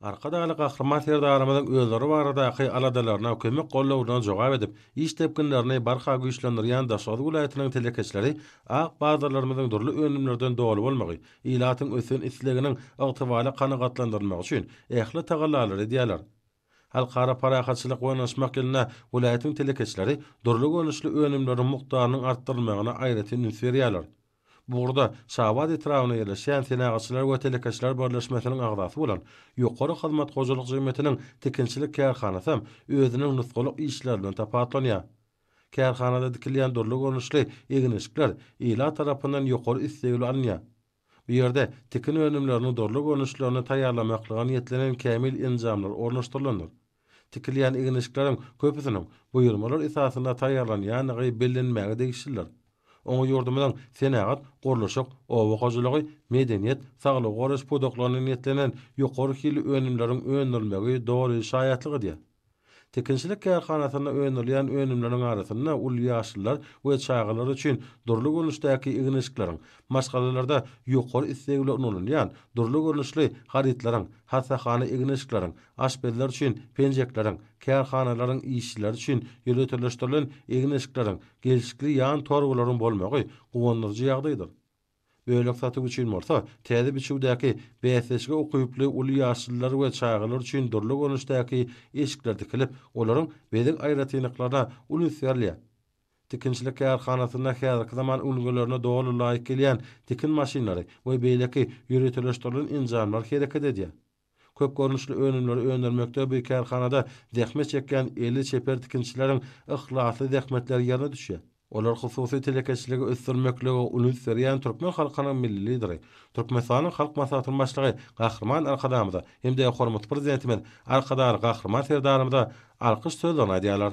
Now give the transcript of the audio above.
Arkadagly Gahryman Serdarymyzyň özleri baradaky aladalaryna, kömek gollaryna jogap edip, iş depginlerini barha güýçlendirýän Daşoguz welaýatynyň telekeçileri ak bazarlarymyzyň dürli önümlerden doly bolmagy, ilatyň ösen isleginiň ygtybarly kanagatlandyrylmagy üçin ähli tagallalary edýärler. Halkara parahatçylyk we ynaşmak ýylynda welaýatyň telekeçileri dürli görnüşli önümleriň mukdarynyň artdyrylmagyna aýratyn üns berýärler. Bu ugurda Şabat etrabynda ýerleşýän Senagatçylar we telekeçiler birleşmesiniň agzasy bolan Ýokary hyzmat hojalyk jemgyýetiniň tikinçilik kärhanasam özüniň nusgalyk işlerinden tapawutlanýar. Kärhanada dikilýän dürli görnüşli egin-eşikler ilat tarapyndan ýokary isleg bilen alynýar. Bu ýerde tikin önümleriniň dürli görnüşlerini taýýarlamaklyga niýetlenen kämil enjamlar ornaşdyrylandyr. Tikilýän egin-eşikleriň köpüsiniň buýurmalar esasynda taýýarlanýandygy bellenmäge degişlidir. Oňa ýurdumyzyň senagat, gurluşyk, oba hojalygy, medeniýet, saglygy goraýyş pudaklaryna niýetlenen ýokary hilli önümleriň öndürilmegi doly şaýatlyk edýär. Tikinçilik kärhanasynda öndürilýän önümleriň arasynda uly ýaşlylar we çagalar üçin dürli görnüşdäki egin-eşikleriň, Maşgalalarda ýokary isleg bilen ulanylýan dürli görnüşli harytlaryň, hassahana egin-eşikleriň, aşpezler üçin penjekleriň, kärhanalaryň işçileri üçin ýöriteleşdirilen egin-eşikleriň, gelşikli ýan torbalaryň bolmagy guwandyryjy ýagdaýdyr. Bölek satyp üçin bolsa täze biçüwdäki bäsleşige ukyply uly ýaşlylar we çagalar üçin dürli görnüşdäki eşikler tikilip, olaryň bezeg aýratynlyklaryna uly üns berilýär. Tikinçilik kärhanasynda häzirki zaman ülňülerine doly laýyk gelýän tikin maşynlary we beýleki ýöriteleşdirilen enjamlar hereket edýär. Köp görnüşli önümleri öndürmekde bu kärhanada zähmet çekýän eli çeper tikinçileriň yhlasly zähmetleri ýerine düşýär. Olar hususy telekeçiligi ösdürmeklige uly üns berýän türkmen halkynyň Milli Lideri, Türkmenistanyň Halk Maslahatynyň Başlygy Gahryman Arkadagymyza hem-de hormatly Prezidentimiz Arkadagly Gahryman Serdarymyza alkyş sözlerini aýdýarlar.